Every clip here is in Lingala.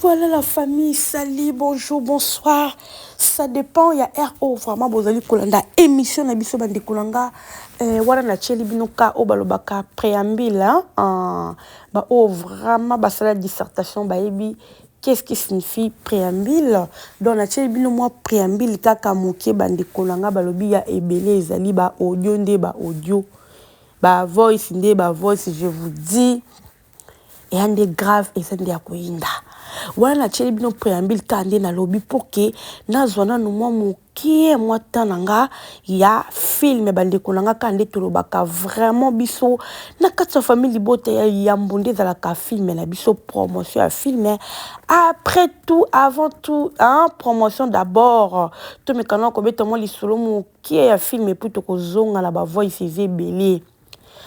Voilà la famille salut bonjour bonsoir ça dépend ya heure oyo vraiment bozali kolanda émission na biso bandeko na nga eh, wana natyeli bino ka oyo balobaka préambule hein? ah, baoyo vraiment basala dissertation bayebi qu'est-ce qui signifie préambule donc natyeli bino mwa préambule kaka moke bandeko na nga balobi ya ebele ezali baaudio nde baaudio bavoice nde bavoice je vous dis eya nde grave eza nde ya koyinda wana natieli bino preambile kaka nde nalobi mpo ke nazwa nanu mwa mokie mwa temps na nga ya filme bandeko na nga kaka nde tolobaka vraiment biso na kati ya famille libota ya yambo nde ezalaka filme na biso promotion ya filme après tout avant tout hein, promotion d'abord tomekana kobeta mwa lisolo mokie ya filme mpo tokozonga na bavoices ebele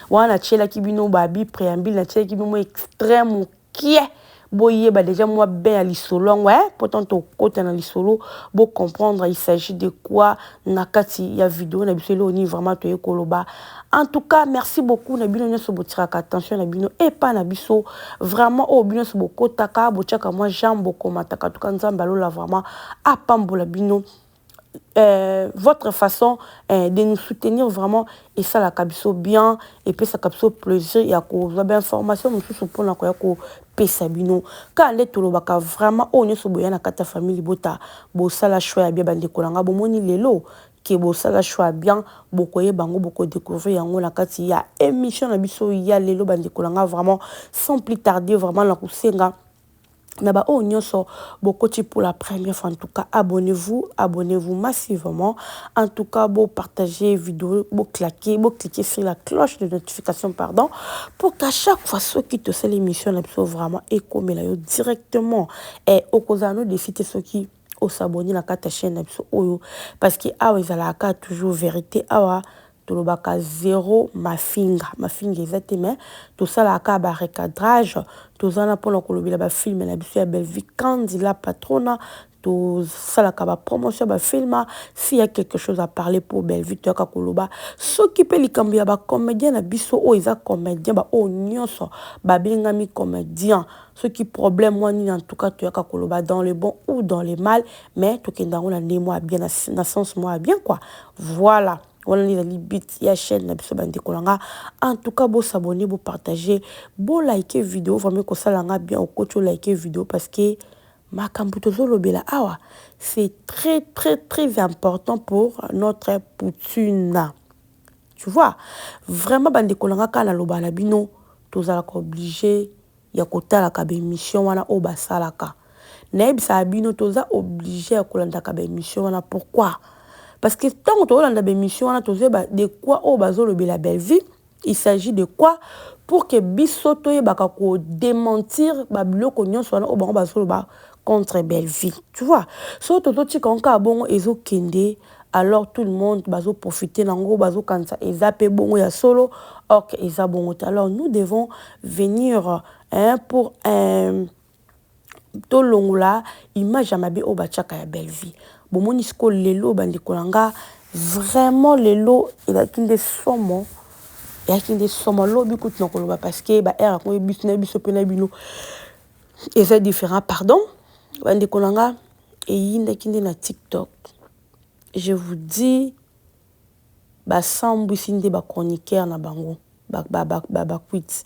wana natielaki bino babi preambile natielaki bino mwa extrait mokie boyeba deja mwa bain ya lisolo yango eh, mpo ntango tokota na lisolo bocomprendre il s'agit de quoi na kati ya video na biso eloo nini vraiment toye koloba en tout cas merci beaucoup na bino nyonso botiraka attention na bino epa na biso vraiment oyo bino nyonso bokotaka botiaka mwa jambe bokomataka tuka nzambe alola vraiment apambola bino Euh, votre façon euh, de nous soutenir vraiment esalaka biso bien epesaka biso plaisir ya kozwa bainformation mosusu mpona koya kopesa bino kaka nde tolobaka vraiment oyo nyonso boya na kati ya famille libota bosala choix ya bien bandeko na ngai bomoni lelo ke bosala choix ya bien bokoyeba yango bokodécouvrir yango na kati ya émission na biso ya lelo bandeko na ngai vraiment sans plus tarder vraiment na kosenga na ba oyo nionso bokoti pour la première fois en tout cas abonnez vous abonnez vous massivement en tout cas bo partager video bo claquer bo cliquer sur la cloche de notification pardon pour qu'à chaque fois soki tosali émission na biso vraiment ekomela yo directement et eh, okozala no défi te soki osabonne na kati ya chaîne na biso oyo parce que awa ezalaka toujours vérité awa Tolobaka zero mafinga, mafinga eza te mais tosalaka kaka ba recadrage, toza wana pona kolobela ba film na biso ya Bellevue Kandy la patrona, tosalaka ba promotion ya ba film, s'il ya quelque chose à parler pour Bellevue toyaka koloba, soki pe likambo ya ba comediens na biso oyo eza comediens ba oyo nionso babengami comediens, Soki problème mua nini en tout cas toyaka koloba dans le bon ou dans le mal mais tokenda yango na ndenge mua bien na sens mua bien quoi voilà wana nde ezali but ya chaîne na biso bandeko na nga en tout cas bo s'abonner bo partager bo liker video vraiment ekosala nga bien okoti o liker video parce que makambo tozolobela awa c'est très très très important pour notre poutine tu vois vraiment bandeko na nga kaka naloba na bino tozalaka oblige ya kotalaka ba emission wana oyo basalaka nayebisaka bino toza oblige ya kolandaka ba emission wana pourquoi parce que tango tozolanda ba emission wana tozoyeba de quoi oyo bazolobela Bellevue il s'agit de quoi pour que biso toyebaka ko dementir ba biloko nyonso wana oyo bango bazoloba contre Bellevue tu vois so tozotika yango kaka bongo ezokende alors tout le monde bazo profiter nango bazo kanisa eza pe bongo ya solo or que eza bongo te alors nous devons venir hein, pour un tolongola image ya mabe oyo batiaka ya Bellevue bomoni siko lelo bandeko na nga vraiment lelo elaki nde somo eyaki nde somo lobi kutu na koloba parce que ba heure yango biso na biso mpe na bino eza différent pardon bandeko na nga eyindaki nde na tiktok je vous dis ba sambwisi nde ba chroniqueur na bango ba bakuiti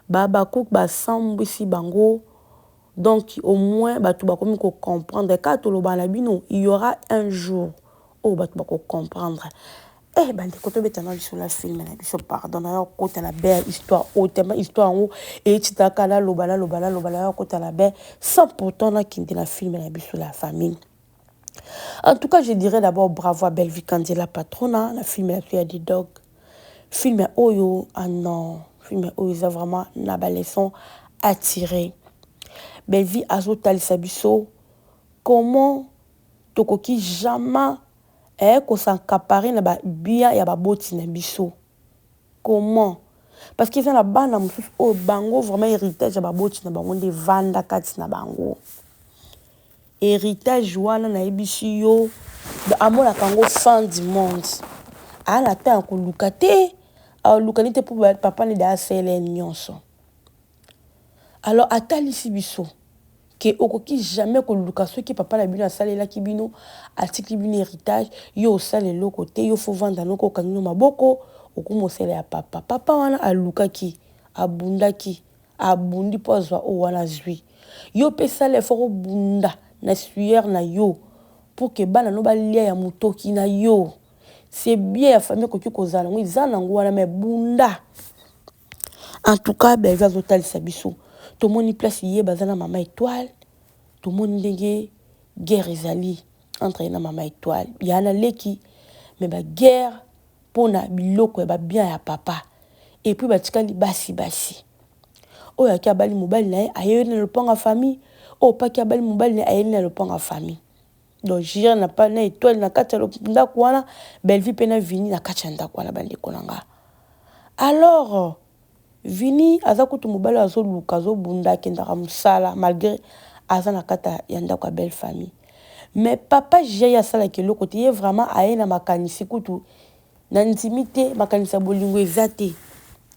ba habacuc ba sambwisi bango donc au moins batu bakomi ko comprendre kaka tolobana bino il y'aura un jour oyo batu bako comprendre Eh bandeko tobeta na biso na film na biso pardon na yo kota na be ya histoire oyo tellement histoire yango eyetitaka naloba naloba naloba na yo kota na be sans pourtant nakende na film na biso la famille en tout cas je dirais d'abord bravo à bellevie kanzi la patrona na film na biso ya didog film oyo ah non film oyo eza vraiment na baleçon attire bellevie azotalisa biso comment tokoki jamais eh ko s'encaparer na ba biens ya ba boti na biso comment? Parce que eza na bana mosusu oyo bango vraiment heritage ya ba boti na bango nde evanda kati na bango heritage wana nayebisi yo amonaka yango fin du monde aa na temps ya koluka te alukani te mpo papa nde de asalela ye nyonso. Alors atalisi biso que okoki jamais koluka soki papa na bino asalelaki bino atikli bino heritage yo osala eloko te yo faut vanda noko okangi no maboko okumosela ya papa papa wana alukaki abundaki abundi mpo azwa oyo wana azwi yo mpe sala effort obunda na sueur na yo pour que bana no balia ya motoki na yo c'est bien ya famille okoki kozala yango eza nango wana mais bunda En tout cas Bellevue azo talisa biso tomoni place ye baza na mama Etoile tomoni ndenge guerre ezali entre ye na mama Etoile ya na leki mais ba guerre pona biloko ya ba bien ya papa et puis batikali basi basi oyo aki abali mobali na ye ayeli na lopango ya famille oyo paki abali mobali na ye ayeli na lopango ya famille Donc Jira na pa na Etoile na kati ya ndaku wana, Bellevue pe na Vini na kati ya ndaku wana ba ndeko na nga. Alors Vini aza kutu mobali oyo azo luka azo bunda akendaka musala malgre aza na kati ya ndaku ya belle famille. Mais papa Jira ye asalaka eloko te, ye vraiment aye na makanisi kutu Na ndimi te makanisi ya bolingo eza te.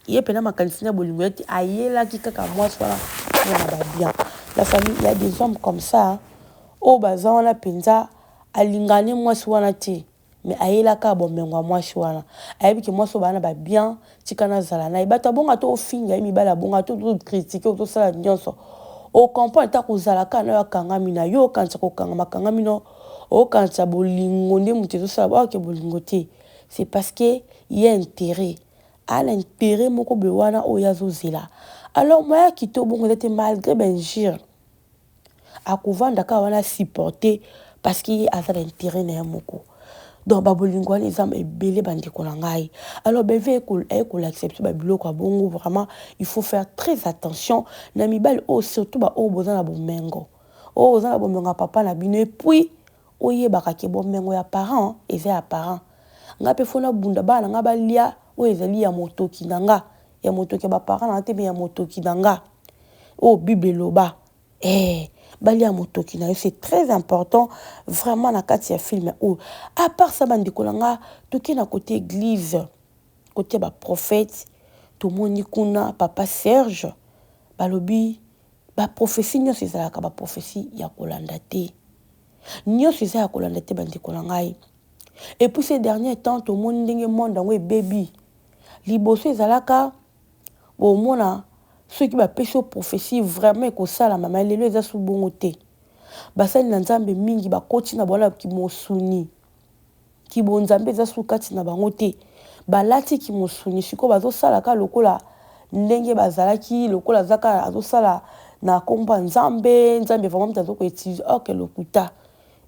Ye pena makanisi na bolingo eza te. Ayelaki kaka mwasi wana pona na ba bien. Na famille il ya des hommes comme ça oyo baza wana penza alingaka ne mwasi wana te mais ayelaka bomengo ya mwasi wana. Ayebi ke mwasi oyo baza na ba bien. Tika nazala naye bato abonga to ofinga ye mibali abonga to to critique to sala nyonso o comprendre ta kozala ka nayo akangami na yo okanisa kokanga makangami no okanisa bolingo nde moto ezosala ba oke bolingo te c'est parce que il y a intérêt a na intérêt moko boye wana oyo azozela alors moya kito bongo eza te malgré ba injure akovanda kaka wana supporter parce que ye aza na intérêt na ye moko donc babolingo wana eza ebele bandeko na ngai alors beve aye kolakisa biso babiloko ya bongo vraiment il faut faire très attention na mibali oyo surtout baoyo boza na bomengo oyo oza na bomengo ya papa na bino epuis oyebaka ke bomengo ya parent eza ya parent ngai mpe fo nabunda bana na ngai balia oyo ezali ya motoki na ngai ya motoki ya baparent na ngai te me ya motoki na ngai oyo bible eloba eh balia motoki na yo c'est très important vraiment na kati ya film oyo à part ça bandeko na nga toke na kote église kote ba prophète tomoni kuna papa serge balobi ba prophétie nyonso ezalaka ba prophétie ya kolanda te nyonso eza ya kolanda te bandeko na ngai et puis ces derniers temps tomoni ndenge monde yango ebebi liboso ezalaka Bo mona soki ba pesi yo prophetie vraiment ekosalama mais lelo eza su bongo te. Ba sali na Nzambe mingi ba koti na bola ki mosuni. Ki bo Nzambe eza su kati na bango te. Ba lati ki mosuni sikoyo bazo sala ka lokola ndenge bazalaki lokola aza ka azo sala na kombo ya Nzambe, Nzambe vraiment mutu azo ko utiliser or que lokuta.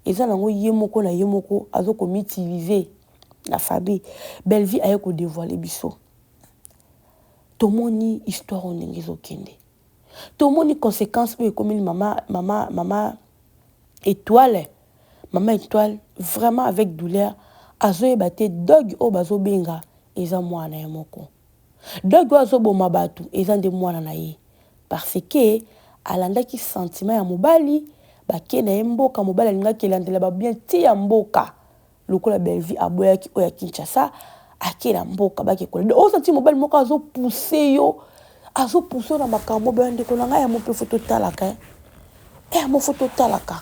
Eza nango ye moko na ye moko azo ko m'utiliser na famille. Bellevue aye ko devoiler biso. tomoni histoire oyo ndenge ezokende tomoni conséquence oyo ekomeli mama mama mama étoile mama étoile vraiment avec douleur azoyeba te doge oyo bazobenga eza mwana na ye moko doge oyo azoboma bato eza nde mwana na ye parce que alandaki sentiment ya mobali bake na ye mboka mobali alingaki elandela babien ti ya mboka Lokola Bellevue aboyaki oyo ya Kinshasa, ake na mboka bake kola. Oza ti mobali moko azo pousser yo, azo pousser yo na makambo ba ndeko na ngai ya mope faut totalaka hein. Eh yango faut totalaka.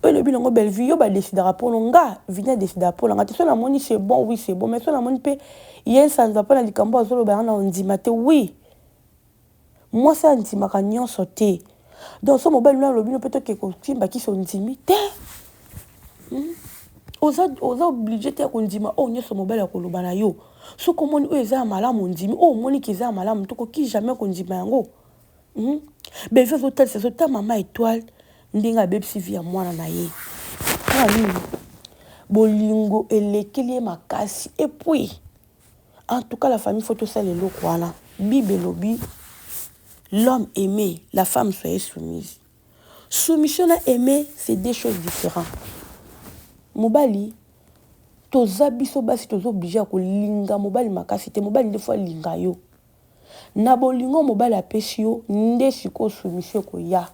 Oyo elobi nango Bellevue yo ba decidaka mpo no nga Vini a decidaka mpo na nga te so namoni c'est bon oui c'est bon mais so namoni mpe ye nsanza mpo na likambo azoloba yango na ondima te oui Mwasi andimaka nionso te donc soki mobali no alobi no pe toke kosimba kisi ondimi te hum oza oza oblige te ya kondima oyo nionso mobali akoloba na yo soki omoni oyo eza ya malamu ondimi oyo omoni ke eza ya malamu te okoki jamais kondima yango hum beve azotalisa so ta mama etoile ndenge abebisi vi ya mwana na ye mpo nini bolingo elekeli ye makasi epuis En tout cas la famille faut tosala eloko wana. Bible elobi l'homme aime, la femme soyez soumise. Soumission na aime c'est deux choses différentes. Mobali toza biso basi tozo oblige ya kolinga mobali makasi te mobali nde faut alinga yo. Na bolingo mobali apesi yo nde sikoyo soumission ekoya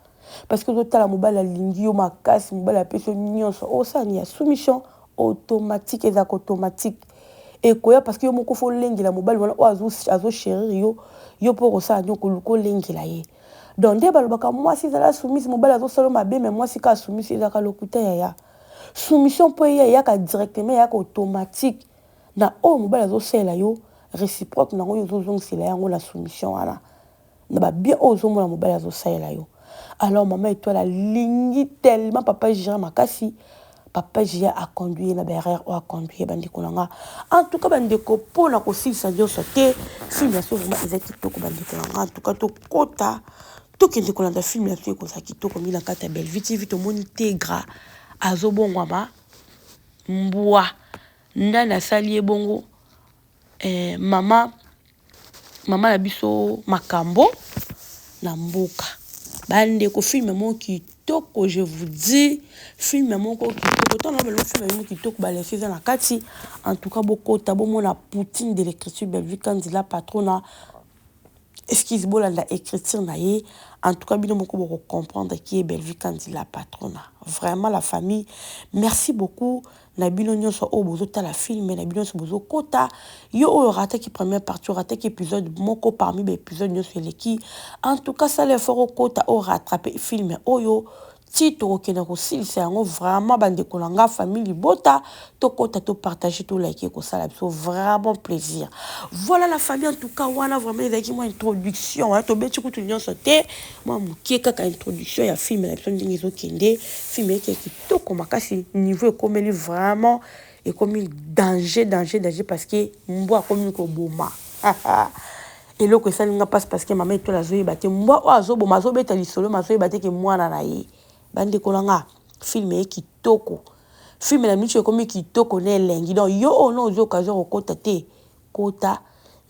parce que ozo tala mobali alingi yo makasi mobali apesi yo nionso okosala nini ya soumission automatique ezalaka automatique ekoya parce que yo moko fo olengela mobali wana oyo azo cherir yo yo mpe okosala nini okoluka olengela ye donc nde balobaka mwasi ezala soumise mobali azosala yo mabe me mwasi kaka soumise ezalaka lokuta yaya soumission mpo eya eyaka directement eyaka automatique na oyo mobali azo salela yo reciproque nango yo ozo zongisela ye yango na soumission wana na ba bien oyo ozo mona mobali azo salela yo alors maman etoile alingi tellement papa Gira makasi papa Gira a conduire na ba erreur oyo a conduire ba ndeko na nga en tout cas ba ndeko po na kosilisa nyonso te film ya so vraiment eza kitoko ba ndeko na nga en tout cas to kota tokende kolanda film ya so ekozala kitoko mingi na kati ya Bellevue TV tomoni Tegra azobongwama Mbwa nani asali ye bongo eh, mama mama na biso makambo na mboka bandeko filme moko kitoko je vous dis filme moko kitoko ntango na balobi filme moko kitoko balesi eza na kati en tout cas bokota bomona poutine de l'écriture bellevue kanzela patrona Excuse bolanda ecriture na ye en tout cas bino moko boko comprendre qui est Bellevue Kandy la patronna vraiment la famille merci beaucoup na bino nionso oyo bozo tala film na bino nionso bozo kota yo oyo rataki première partie rataki episode moko parmi ba episode nionso eleki en tout cas sala effort okota o rattraper film oyo ti tokokende kosilisa yango vraiment ba ndeko na nga famille libota tokota to partager to like ekosala biso vraiment plaisir voilà la famille en tout cas wana vraiment ezalaki mwa introduction hein, tobeti kutu nyonso te mwa moke kaka introduction ya film na biso ndenge ezokende film eyaki ya kitoko makasi niveau ekomeli vraiment ekomi danger danger danger parce que mbwa akomi koboma Eloko esali nga pasi parce que mama etoile azoyeba te mbwa oyo azoboma azobeta lisolo mais azoyeba te ke mwana na ye bandeko na nga film eye kitoko film na miso ekomi kitoko na elengi donc yo oyo na ozwi occasion kokota te kota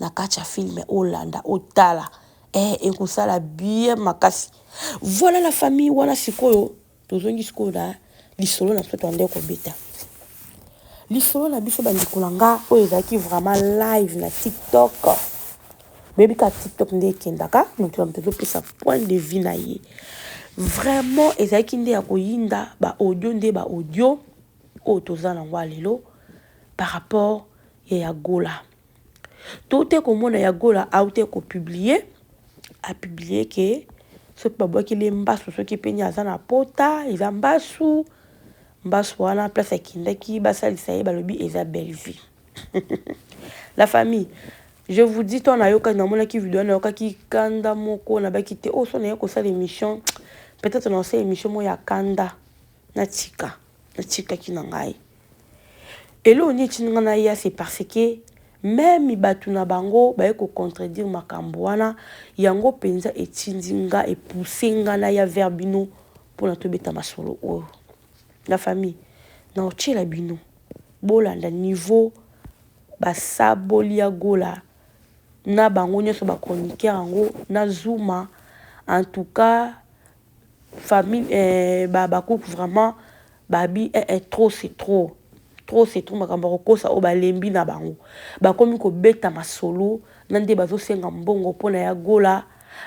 na kati ya film olanda otala eh ekosala bien makasi voilà la famille wana sikoyo Tozongi sikoyo na lisolo na biso toandaki kobeta lisolo na biso bandeko na nga oyo ezalaki vraiment live na tiktok boyebi kaka tiktok nde ekendaka moto na moto ezopesa point de vue na ye vraiment ezalaki nde ya koyinda baaudio nde baaudio oyo toza na yango ya lelo par rapport ya ya gola Toutaki komona ya Gola autaki ko publier, a publier ke soki babwakeli ye mbasu soki pe aza na pota eza mbasu mbasu wana place akendaki basalisa ye balobi eza Bellevue la famille je vous dis toi nayoka namonaki video nayokaki kanda moko nabaki te oyo oh, so naye kosala émission peut-être nasala émission moko ya kanda natika natikaki na ngai Eloko nini etindi nga naya c'est parce que meme batu na bango baye ko contredire makambo wana yango penza etindi nga e pousser nga naya vers bino pona tobeta masolo oyo. La famille naotiela bino bolanda niveau basaboli ya Gola na bango nionso ba chroniqueurs yango na Zuma en tout cas Famille eh ba habacuc vraiment ba bi eh eh trop c'est trop trop c'est trop makambo ya kokosa oyo balembi na bango bakomi kobeta masolo na nde bazosenga mbongo mpo na ya gola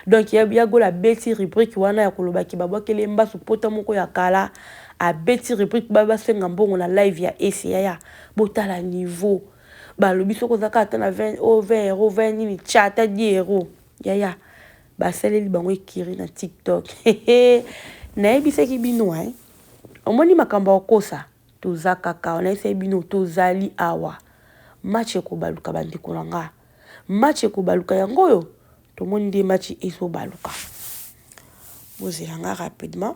donc ya, ya gola abeti rubrique wana ya koloba ke babwakeli ye mbasu pota moko ya kala abeti rubrique ba basenga mbongo na live ya ese yaya botala niveau balobi soki oza kaka ata na 20 o 20 euro 20 nini tya ata 10 euro yaya Basaleli bango ecurie na tiktok nayebisaki bino hein. Omoni makambo ya kokosa toza kaka awa nayebisaki bino tozali awa match ekobaluka bandeko na nga match ekobaluka yango oyo tomoni nde match ezobaluka bozela nga rapidement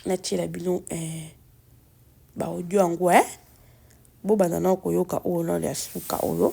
natiela bino eh, baaudio yango eh. bobanda nao koyoka oyo nao ya suka oyo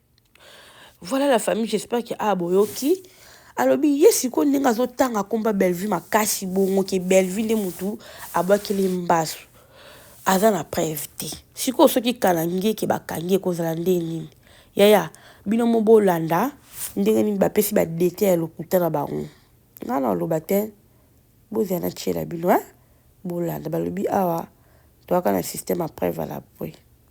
Voilà la famille, j'espère que ah boyoki. alobi ye sikoyo ndenge azotanga akomba bellevue makasi bongo ke bellevue nde motu abwakeli mbasu aza na preuve te sikoyo soki kalangi eke bakangi ekozala nde nini yaya bino mo bolanda ndenge nini bapesi badete ya lokuta na bango ngai na oloba te bozala na tiela bino eh? bolanda balobi awa toyaka na systeme ya preuve à la pui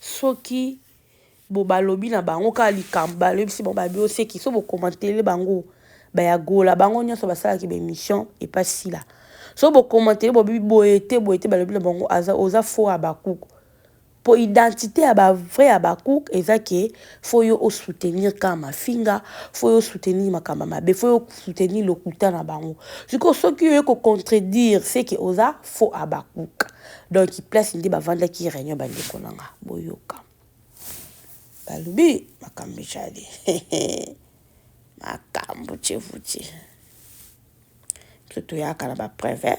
soki bo balobi na bango kaka likambo balobisi bango balobi oseki so bokomantele bango baya gola bango nyonso basalaki baemission epa sila so bokomantele bobi boye te boye te balobi na bango aza oza fo abakuk mpo identité ya bavrai abakuk eza ke fo yo osoutenir kaka mafinga fo yo osoutenir makambo mabe fo yo osoutenir lokuta na bango sikoyo soki oye kocontredire seke oza fo abakuk donc place nde bavandaki réunion bandeko na nga boyoka balobi makambo ejali makambo cevuti biso toyaka na bapreve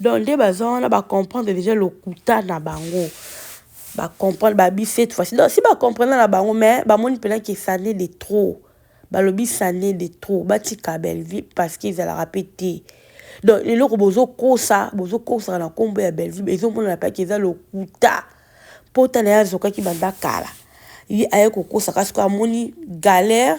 Donc nde baza wana ba comprendre dejà lokuta na bango ba comprendre ba bi cette fois donc si ba comprendre na bango mais ba moni pena que ça n'est de trop balobi ça n'est de trop batika Bellevue parce que ezalaka pe te donc eloko bozo kosa bozo kosa na kombo ya Bellevue ezo mona na pa que eza lokuta pota na ye azokaki banda kala ye aye kokosa kasi ko amoni galère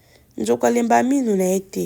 nzoko alembaa minu na ye te.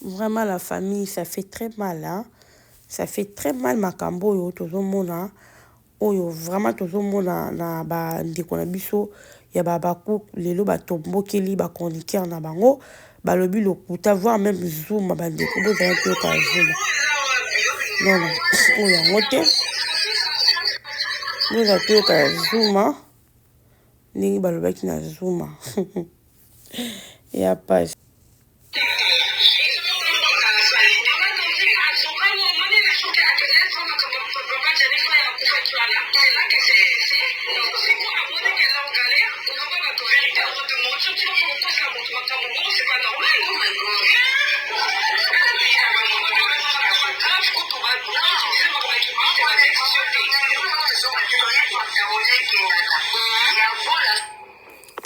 Vraiment la famille ça fait très mal hein ça fait très mal makambo oyo tozo mona oyo vraiment tozo mona na ba ndeko na biso ya ba Habacuc lelo ba tombokeli ba chroniqueurs na bango balobi lokuta voir même Zuma ba ndeko bozala koyoka Zuma non non oyo yango te bozala koyoka Zuma ndenge balobaki na Zuma ya pasi.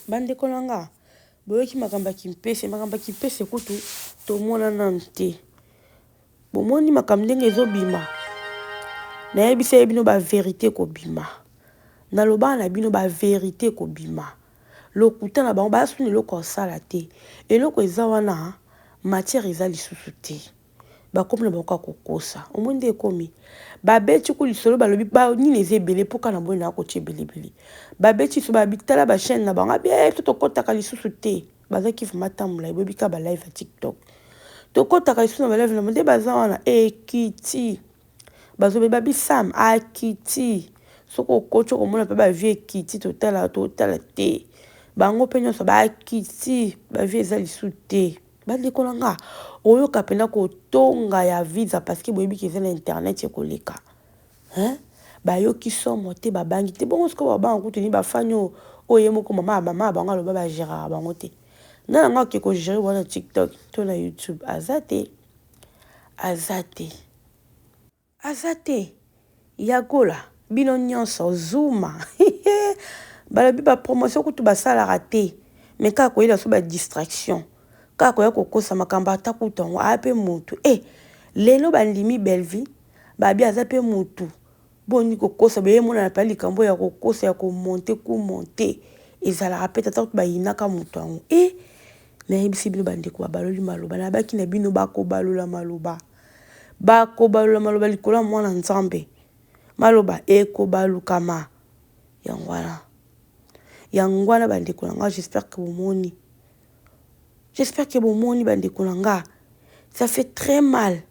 Bandeko na nga, boyoki makambo ya kimpese, makambo ya kimpese kutu tomona nanu te. Bomoni makambo ndenge ezobima, nayebisa ye bino ba verite kobima, nalobaka na bino ba verite kobima, lokuta na bango baza suni eloko kosala te, eloko eza wana matière eza lisusu te. Bakomi na bango kaka kokosa. Omoni nde ekomi? Babeti ku lisolo balobi ba nini eza ebele mpo kaka na boye na kotia ebelebele. Babeti lisolo balobi tala ba chaîne na bango abi eh to tokotaka lisusu te. Bazaki vraiment temps molayi boyebi kaka ba live ya TikTok. Tokotaka lisusu na ba live na bango nde baza wana ekiti. Bazoloba babi Sam akiti. Soki okoti okomona mpe ba vie ekiti totala totala te. Bango mpe nyonso bakiti ba vie eza lisusu te. Ba ndeko na nga oyoka pena ko tonga ya visa parce que boyebi keza na internet ekoleka hein ba yoki somo te ba bangi te bongo sikoyo ba banga kutu ni ba fani oyo oyo ye moko mama ya mama bango aloba ba geraka bango te na yango ake ko gerer wana tiktok to na youtube aza te aza te Aza te ya gola bino nionso zuma hihee balobi ba promotion kutu basalaka te mais kaka koyela biso ba distraction kaka koya kokosa makambo ata kutu yango aya pe mutu eh lelo bandimi Bellevue babi aza pe mutu boni kokosa boye emonana pena likambo ya kokosa ya ko monte ku monte ezalaka pe te ata kutu bayinaka mutu yango eh nayebisi bino bandeko babaloli maloba nayebaki na bino bakobalola maloba. Bakobalola maloba likolo ya Mwana Nzambe. Maloba ekobalukama. Yango wana. Yango wana bandeko na nga, j'espère que bomoni. J'espère que bomoni bandeko na nga. Ça fait très mal.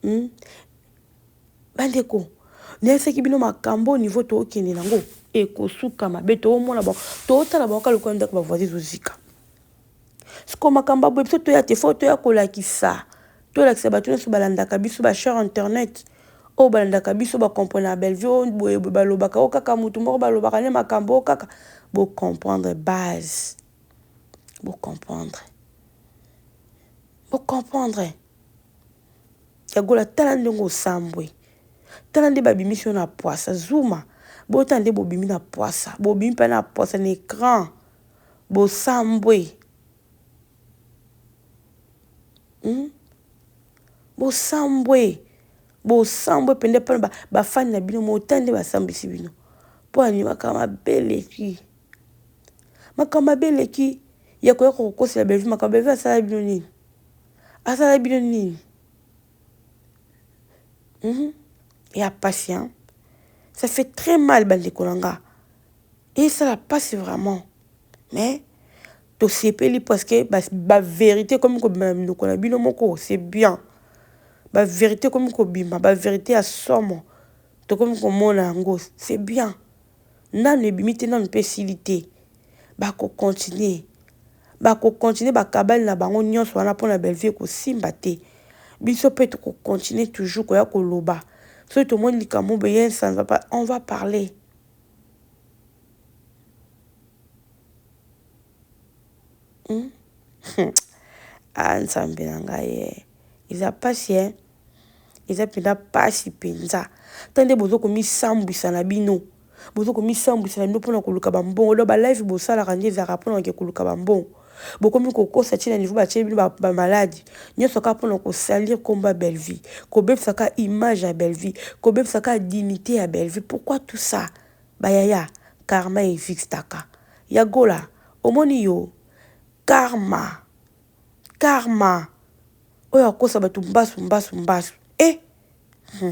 Hmm? Bandeko, nayebisaki bino makambo au niveau tookende nango ekosuka mabe toomona bango tootala bango kaka lokola ndako bavoisin ezozika Siko makambo ya boye biso toya te fo toya kolakisa tolakisa bato nyonso balandaka biso ba chers internet oyo balandaka biso ba comprenaka Bellevue oyo boye boye balobaka oyo kaka motu moko balobaka nde makambo oyo kaka bo comprendre base bo comprendre bo comprendre ya gola tala ndenge osambwe tala nde babimisi yo na pwasa zuma botala nde bobimi na pwasa bobimi mpe na pwasa na ecran Bosambwe hum bosambwe bosambwe pende epai na bafani na bino motani nde basambwisi bino mpo ani makambo mabe eleki makambo mabe eleki ya koya kokosela bellevue makambo bellevue asala bino nini asala bino nini hum ya patient ça fait très mal bandeko na nga Esala pasi vraiment mais tosepeli parce que ba verite ekomi kobima na minoko na bino moko c'est bien ba verite ekomi kobima ba verite ya somo tokomi komona yango c'est bien nanu ebimi te nanu mpe esili te bakocontinue bakocontinue bakabale na bango nyonso wana mpo na bellevue ekosimba te biso mpe tokocontinue toujours koya koloba soki tomoni likambo boye nsanza on va parler Hmm? ah, nzambe na ngai ye eh. eza mpasi e eh? eza mpenza mpasi mpenza ta nde bozo komisambwisa na bino bozo komisambwisa na bino mpona koluka bambongo lo balive bosalaka nde ezalaka mpona ke koluka bambongo Bokomi kokosa ti na niveau ba tieli bino ba malade nionso kaka pona ko salir kombo ya Bellevue, ko bebisa kaka image ya Bellevue, ko bebisa kaka dignite ya Bellevue pourquoi tout ça? Ba yaya karma evixtaka ya Gola omoni yo karma karma oyo akosa batu mbasu mbasu mbasu eh! Hum.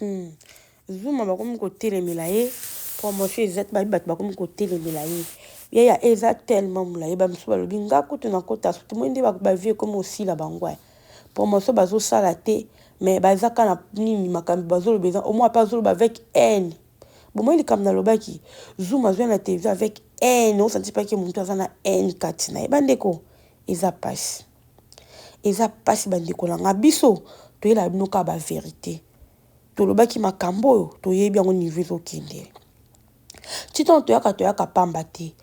Hum zuma bakomi kotelemela ye promotion eza te babi bato bakomi kotelemela ye ye ya eza tellement molaye bamosusu balobi nga kutu nakota soki moi nde bavie ekomi osila bango ya promotion bazosala te mais baza ka na nini makambo bazoloba eza omoi mpe azoloba avec haine bomoi likambo nalobaki zoom azwa na television avec haine osantisipaki motu aza na haine kati na ye bandeko eza mpasi eza pasi ba ndeko na nga biso toyela bino ka ba verite tolobaki makambo oyo toyebi yango niveau ezokende titan toyaka toyaka pamba te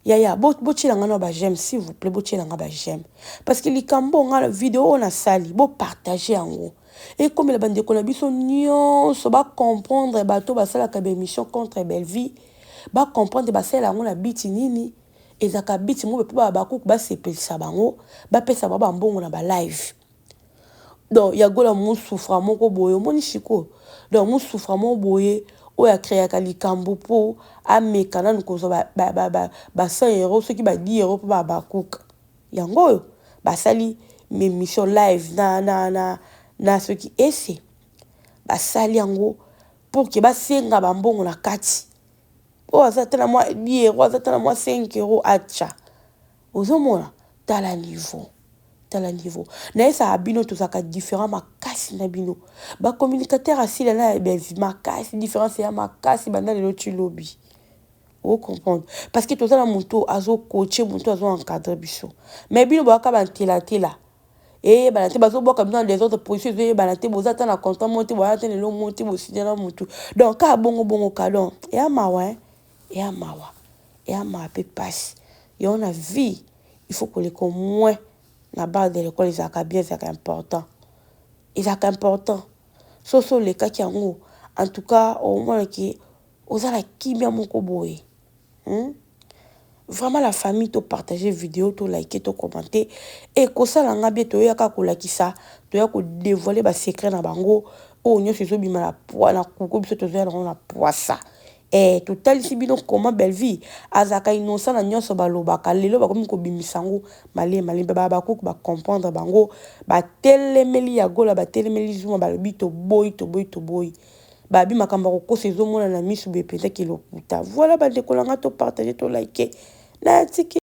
yaya botyela nga na ba j'aime s'il vous plaît botyela nga ba j'aime parce que likambo nga video oyo nasali bopartage yango ekomela bandeko na biso nyonso bacomprendre bato basalaka baémission contre bellevie bacomprendre basalela yango na biti nini ezalaka but moko pe ba habacuc ba sepelisa bango ba pesa bango ba mbongo na ba live donc ya gola mu souffra moko boye omoni sikoyo donc mu souffra moko boye oyo a creaka likambu po ameka nanu kozwa ba ba ba ba ba 100 euros soki ba 10 euros po ba habacuc yango oyo basali emission live na na na na soki ese basali yango pour que ba senga ba mbongo na kati oyo aza ata na mwa 10 euro aza ata na mwa 5 euro atya ozomona tala niveau tala niveau nayesaka bino tozalaka différent makasi na bino bacommunicateur asila na ebezi makasi différence ya makasi banda lelo ti lobi ocomprendre parce que toza na moto azokoche moto azoencadre biso mais bino boyaka bantelatela eyebana te bazobwaka bino na desordre position ezoyebana te boza ata na contrat moko te boya ata lelo moko te bosinya na motu donc kaka bongo bongo ka donc eya mawa hein eya mawa eya mawa mpe mpasi yango na vie il faut koleka au moins na barre de l'école ezalaka bien ezalaka important ezalaka important soso olekaki yango en tout cas omonaki Oza na kimia moko boye hum vraiment la famille to partager video to like to commenter et kosala nga bien toya ka kolakisa toya ko dévoiler ba secret na bango oyo nyoso ezo bima na poa na kuko biso tozo ya na poisa eh totalisi bino comment Bellevue azaka innocent na nyoso balobaka lelo bakomi kobimisa yango male male ba Habacuc ba comprendre bango batelemeli ya gola batelemeli zuma balobi toboyi toboyi toboyi Babi makambo ya kokosa ezo monana na misu boye penza kilokuta. Voilà ba ndeko na nga to partager to liker. Naya tiki.